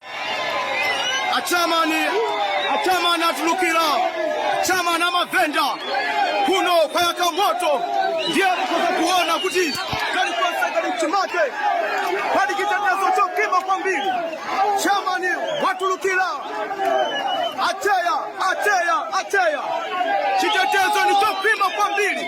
a chairman a chairman atulukira chairman a mavenda kuno kwayaka moto ndiye mukhoza kuona kuti kalikonse kali mchimake pali chitetezo chokhwima kwambiri chairman watulukira acheya acheya acheya chitetezo ndi chokhwima kwambiri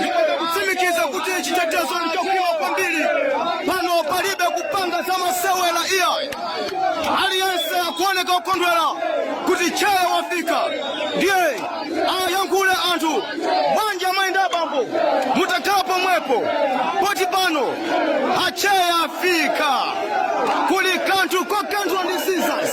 ndikutsimikiza kuti chitetezo ndi chokhwima kwambiri pano palibe kupanga za masewera iyayi aliyense akuoneka kukondwera kuti cheya wafika ndiye ayankhule anthu banja amayi ndi abambo mutakhala pomwepo poti pano acheya afika kuli kanthu kokanthwa ndi sizas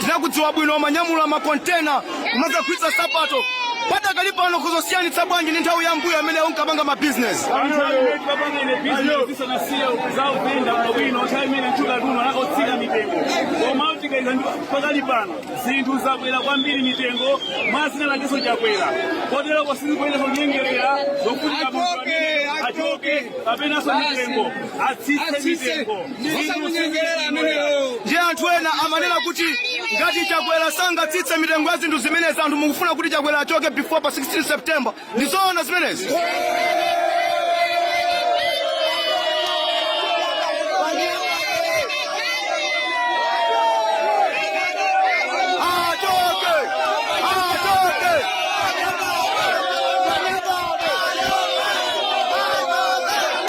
tinakudziwa bwino umanyamula makontena kumakagulitsa sapato padakali pano ukuzisiyanitsa bwanji ndi nthawi ya mbuyo amene unkapanga mabizinesi pakali pano zinthu zakwera kwambiri mitengo mwa dzina lakenso chakwera koteroko sizikuyenda zonyengerera zokuti achoke kapenanso mitengo atsitse mitengo osamunyengerera amenewo ndiye anthu ena amanena kuti ngati chakwera sangatsitse mitengo ya zinthu zimenezi anthu mukufuna kuti chakwera achoke before pa 16 september ndi zoona zimenezi achoke achoke